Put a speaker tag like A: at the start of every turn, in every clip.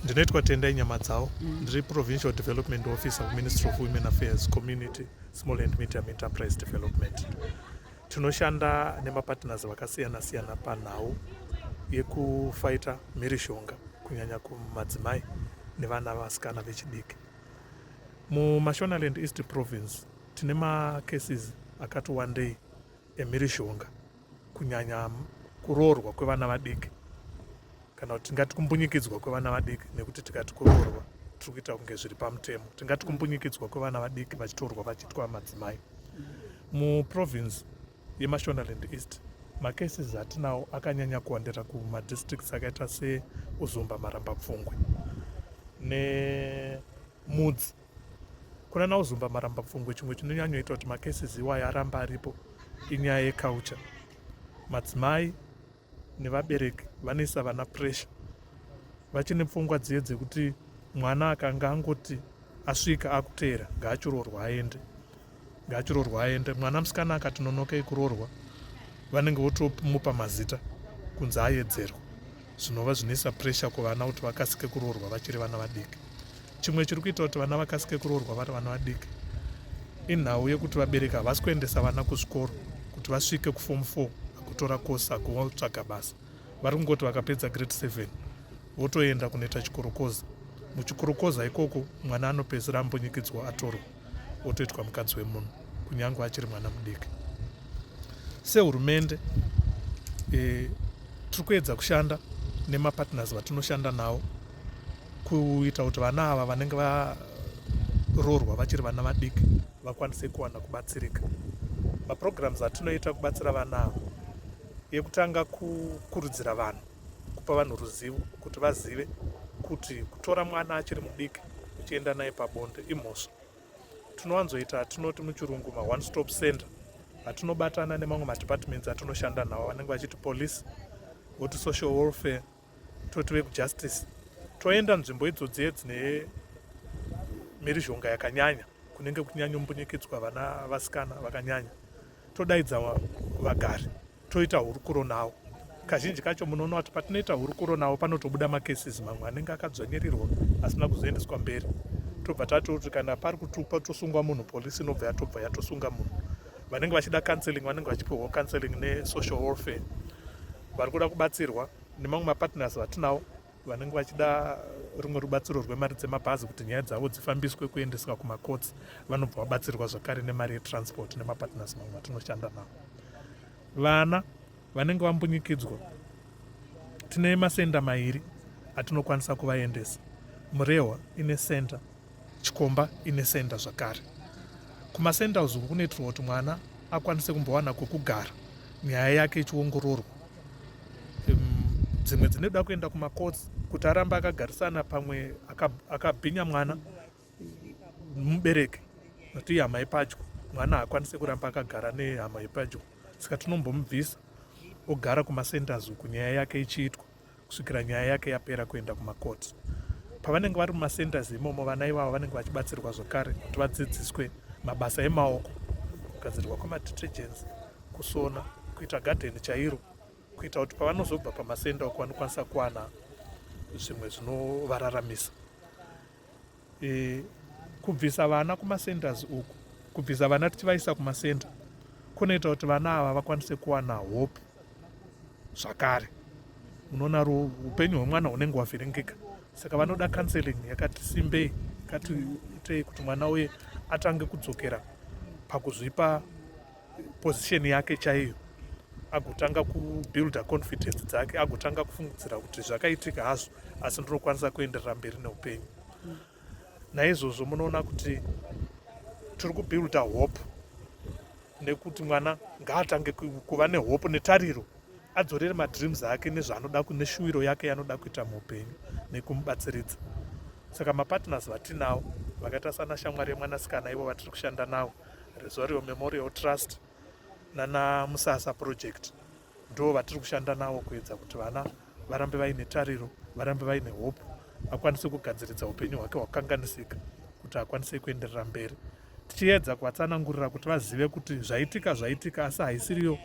A: ndinoitwa tendai nyamadzawo mm. ndiri mm. provincial development officer kuministry of women affairs community small and medium enterprise development tinoshanda nemapartners vakasiyana siyana panhau yekufaita mhirishonga kunyanya kumadzimai nevana vasikana vechidiki mumashonaland east province tine macases akati wandei emhirizhonga kunyanya kuroorwa kwevana vadiki kana kuti tingati kumbunyikidzwa kwevana vadiki nekuti tikati kuroorwa tiri kuita kunge zviri pamutemo tingati kumbunyikidzwa kwevana vadiki vachitorwa vachiitwa madzimai muprovince yemashonaland east macases atinawo akanyanya kuwandira kumadistricts akaita seuzumba marambapfungwe nemudzi ne Kuna Nauzumba Marambapfungwe, chimwe chinonyanyoita kuti macases iwaya aramba aripo inyaya yeculture. Madzimai nevabereki vanoisa vana pressure vachine pfungwa dziye dzekuti mwana akanga angoti asvika akuteera ngaachiroorwa aende ngaachirorwa aende mwana musikana akati nonokei kurorwa vanenge votomupa mazita kunzi ayedzerwa zvinova zvinoisa pressure kuvana kuti vakasike kurorwa vachiri vana vadiki chimwe chiri kuita kuti vana vakasike kurorwa vari vana vadiki inhau yekuti vabereki havasi kuendesa vana kuzvikoro kuti vasvike kuform four akutora course akutsvaga basa vari kungoti vakapedza grade seven votoenda kunoita chikorokoza muchikorokoza ikoko mwana anopedzisira ambunyikidzwa atorwa otoitwa mukadzi wemunhu kunyange achiri mwana mudiki sehurumende e, tiri kuedza kushanda nemapartners vatinoshanda nawo kuita kuti vana ava vanenge varoorwa vachiri vana vadiki vakwanise kuwana kubatsirika maprograms atinoita kubatsira vana ava yekutanga kukurudzira vanhu kupa vanhu ruzivo kuti vazive kuti kutora mwana achiri mudiki uchienda naye pabonde imhosva tinowanzoita atinoti muchirungu maone stop center atinobatana nemamwe madepartments atinoshanda nawo vanenge vachiti police voti social welfare toti vekujustice toenda nzvimbo idzodzi yedzine mhirizhonga yakanyanya kunenge kuchinyanyombunyikidzwa vana vasikana vakanyanya todaidza vagari toita hurukuro nawo kazhinji kacho munoona kuti patinoita hurukuro nawo panotobuda macases mamwe anenge akadzvanyirirwa asina kuzoendeswa mberi tobva tati kuti kana pari kutupa tosungwa munhu polisi inobva yatobva yatosunga munhu vanenge vachida counseling vanenge vachipiwa counseling nesocial warfare vari kuda kubatsirwa nemamwe mapartners vatinawo vanenge vachida rumwe rubatsiro rwemari dzemabhazi kuti nyaya dzavo dzifambiswe kuendeswa kumakotsi vanobva vabatsirwa zvakare nemari yetransport nemapatners mamwe atinoshanda navo vana vanenge vambunyikidzwa tine masenda mairi atinokwanisa kuvaendesa murehwa ine center Chikomba ine senda zvakare. Kumasendals uku kunoitirwa kuti mwana akwanise kumbowana kwekugara nyaya yake ichiongororwa. Dzimwe dzinoda kuenda kumacourts kuti arambe akagarisana pamwe akabhinya mwana mubereki nokuti ihama yepadyo mwana haakwanise kuramba akagara nehama yepadyo saka tinombomubvisa ogara kumasenders uku nyaya yake ichiitwa kusvikira nyaya yake yapera kuenda kumakoti pavanenge vari mumacentres imomo vana ivavo vanenge vachibatsirwa zvakare kuti vadzidziswe mabasa emaoko kugadzirwa kwemadetergents kusona kuita gadheni chairo kuita kuti pavanozobva pamasenda uko vanokwanisa kuwana zvimwe zvinovararamisa e, kubvisa vana kumacenters uku kubvisa vana tichivaisa kumacenter kunoita kuti vana ava vakwanise kuwana hope zvakare unoona upenyu hwemwana hunenge hwavhiringika saka vanoda counseling yakati simbei kati itei kuti mwana uye atange kudzokera pakuzvipa position yake chaiyo agotanga kubuilda confidence dzake agotanga kufungidzira kuti zvakaitika hazvo asi ndinokwanisa kuenderera mberi neupenyu naizvozvo munoona kuti tiri kubuilda hope nekuti mwana ngaatange kuva nehope netariro adzorere madreams ake nezvaanoda neshuwiro yake yaanoda kuita muupenyu nekumubatsiridza saka mapartners vatinawo vakaita sana shamwari yemwanasikana ivo vatiri kushanda nawo rezvario memorial trust nana musasa project ndo vatiri kushanda navo kuedza kuti vana varambe vaine tariro varambe vaine hope akwanise kugadziridza upenyu hwake hwakanganisika kuti akwanise kuenderera mberi tichiedza kuvatsanangurira kuti vazive kuti zvaitika zvaitika asi haisiriyo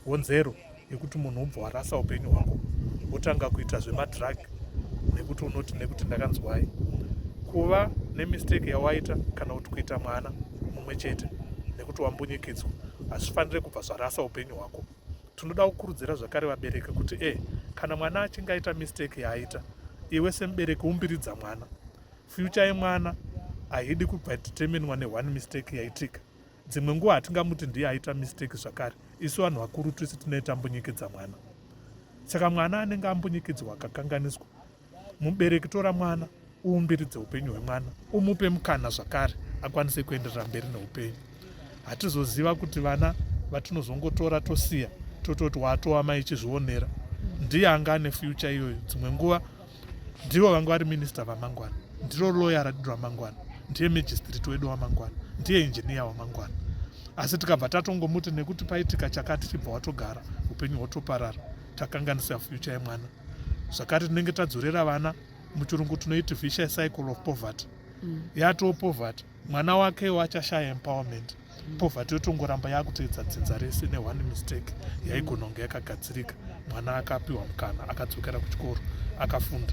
A: honzero yekuti munhu ubva warasa upenyu hwako wotanga kuita zvemadrug nekuti unoti nekuti ndakanzwai kuva nemistake yawaita kana kuti kuita mwana mumwe chete nekuti wambunyikidzwa hazvifanire kubva zvarasa upenyu hwako tinoda kukurudzira zvakare vabereki kuti e eh, kana mwana achinge aita mistake yaaita iwe semubereki umbiridza mwana fyucha yemwana haidi kubva determinwa neone mistake yaitika dzimwe nguva hatingamuti ndiye aita mistake zvakare isu vanhu vakuru tese tinee tambunyikedza mwana saka mwana anenge ambunyikidzwa akakanganiswa mubereki tora mwana uumbiridze upenyu hwemwana umupe mukana zvakare akwanise kuenderera mberi neupenyu hatizoziva kuti vana vatinozongotora tosiya tototi watova mai chizvionera ndiye anga ane future iyoyo dzimwe nguva ndivo vanga vari minista vamangwana ndiro loya radiro amangwana ndiye magistrate wedu wamangwana ndiye injiniya wamangwana asi tikabva tatongomuti nekuti paitika chakati chibva watogara upenyu hwotoparara takanganisa future yemwana zvakare tinenge tadzorera vana muchirungu tinoiti vicious cycle of poverty mm. yatoo poverty mwana wake wachashaya empowerment poverty yotongoramba yakutoedza dzinza rese neone mistake yaigononge yakagadzirika mwana akapiwa mukana akadzokera kuchikoro akafunda